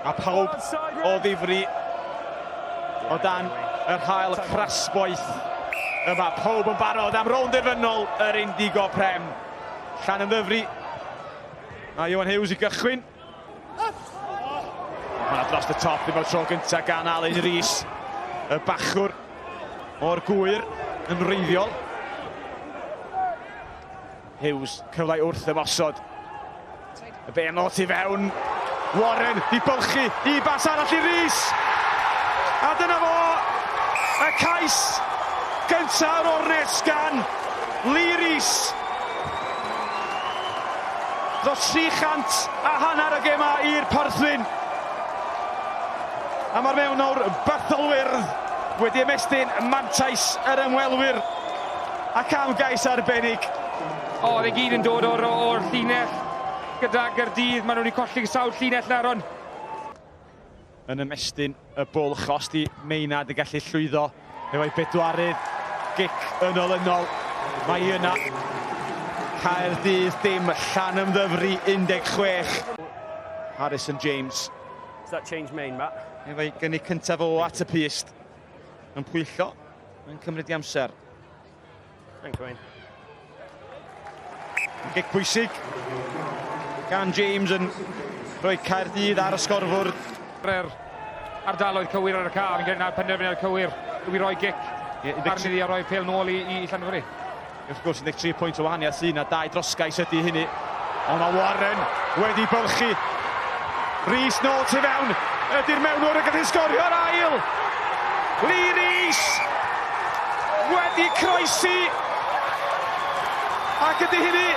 A pawb o ddifri o dan yr hael crasboeth yma. Pawb yn barod am rownd derfynol yr Indigo Prem. Llan yn ddyfri. A Iwan Hughes i gychwyn. Mae'n dros y top ddim o'r tro gyntaf gan Alun Rhys. Y bachwr o'r gwyr yn wreiddiol. Hughes, cyfle wrth ymosod. Y beno tu fewn. Warren i bylchu i bas arall i Rees. A dyna fo, y cais gyntaf o'r ornest gan Lee Rees. Dros 300 a hanner y gema i'r Porthwyn. A mae'r mewnwr Bethelwyrdd wedi ymestyn mantais yr ymwelwyr. Ac am gais arbennig! O, fe gyd yn dod o'r o'r llinell gyda Gyrdydd. Maen nhw wedi colli sawl llinell nawr, ond... Yn ymestyn y bwlch, os di Meinad yn gallu llwyddo efo'i bedwarydd gic yn olynol. Mae yna Caerdydd dim, llan ymddyfri 16. Harrison James. Does that change main, Matt? Efo'i gynnig cyntaf o at y pyst. Yn pwyllo. Mae'n cymryd i amser. Thanks, Wayne. Gic pwysig gan James yn rhoi Caerdydd ar y sgorfwrdd. Bre'r ardaloedd cywir ar y car yn gwneud penderfyniad cywir i roi gic arni a roi ffeil nôl i, i Llanfyri. Wrth gwrs, 13 pwynt o wahaniaeth sydd yna, dau drosgais ydy hynny. Ond mae Warren wedi bylchu. Rhys nôl tu fewn, ydy'r mewnwr yn gallu sgorio'r ail. Lee Rhys wedi croesi ac ydy hynny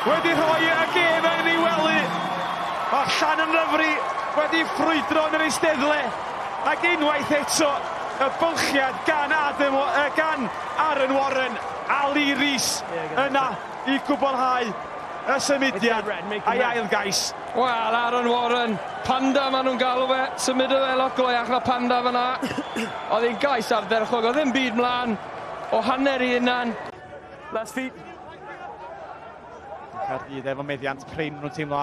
wedi rhoi y gêm yn ei wely. Mae Llan yn Ryfri wedi ffrwydro yn yr eisteddle ac unwaith eto y bylchiad gan Adam, uh, gan Aaron Warren a Lee Rees yna i gwblhau y symudiad a'i ail gais. Wel, Aaron Warren, Panda maen nhw'n galw fe, symudodd e lot go iach na Panda fan'na. Oedd hi'n gais ardderchog, oedd ddim byd mlaen o hanner i hunan. Last feet. Caerdydd efo meddiant prin, maen nhw'n teimlo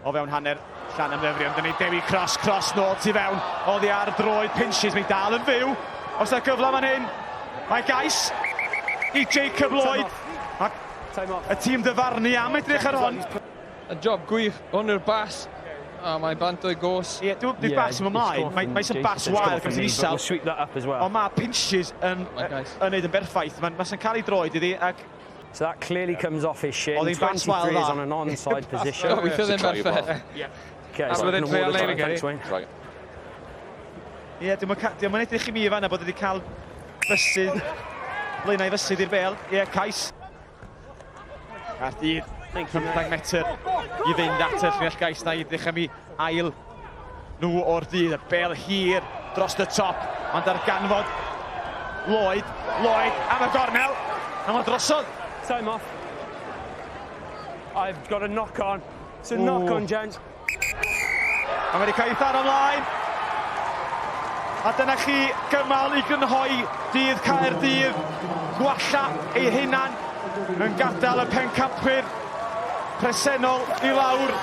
O fewn hanner llan am ddyfrio am dyny Dewi Cross, Cross nôl tu fewn, oddi ar droed Pinches, mae dal yn fyw, os da gyfle fan hyn, mae gais i Jacob Lloyd, y tîm dyfarnu am edrych ar hon. A job gwych, hwn yw'r bas, a mae bant o'i gos. Ie, dwi'n yeah, bas yn ymlaen, mae, mae sy'n bas wael gan sy'n isel, ond mae Pinches yn, yn neud yn berffaith, mae'n ma cael ei droed iddi, ac So that clearly yeah. comes off his shin. Oedd hi'n bant wael dda. on an onside position. Oh, weithio ddim berffaith. Okay, so wedyn trio leir yn gyrru. Right. Ie, yeah, diolch yn edrych i mi i fanna bod wedi cael fysydd, blaenau fysydd i'r bel. Ie, yeah, cais. Caerdydd, 15 metr i fynd at y llunell gais na i ddechrau mi ail nhw o'r dydd, y bel hir dros y top, ond darganfod Lloyd, Lloyd am y gornel, a mae'n drosodd. Time off. I've got a knock on. It's a Ooh. knock on, gents. A mae wedi cael ei tharo ymlaen. A dyna chi gymal i grynhoi dydd Caerdydd. Gwalla ei hunan yn gadael y pencampwyr presennol i lawr,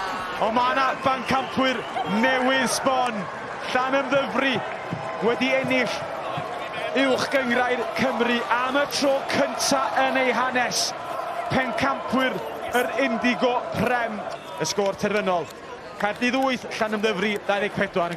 ond mae yna bancampwyr newydd sbon, Llanymddyfri wedi ennill Uwch Gynghrair Cymru am y tro cynta' yn eu hanes, pencampwyr yr Indigo Prem. Y sgôr terfynol, Caerdydd wyth, Llanymddyfri 24.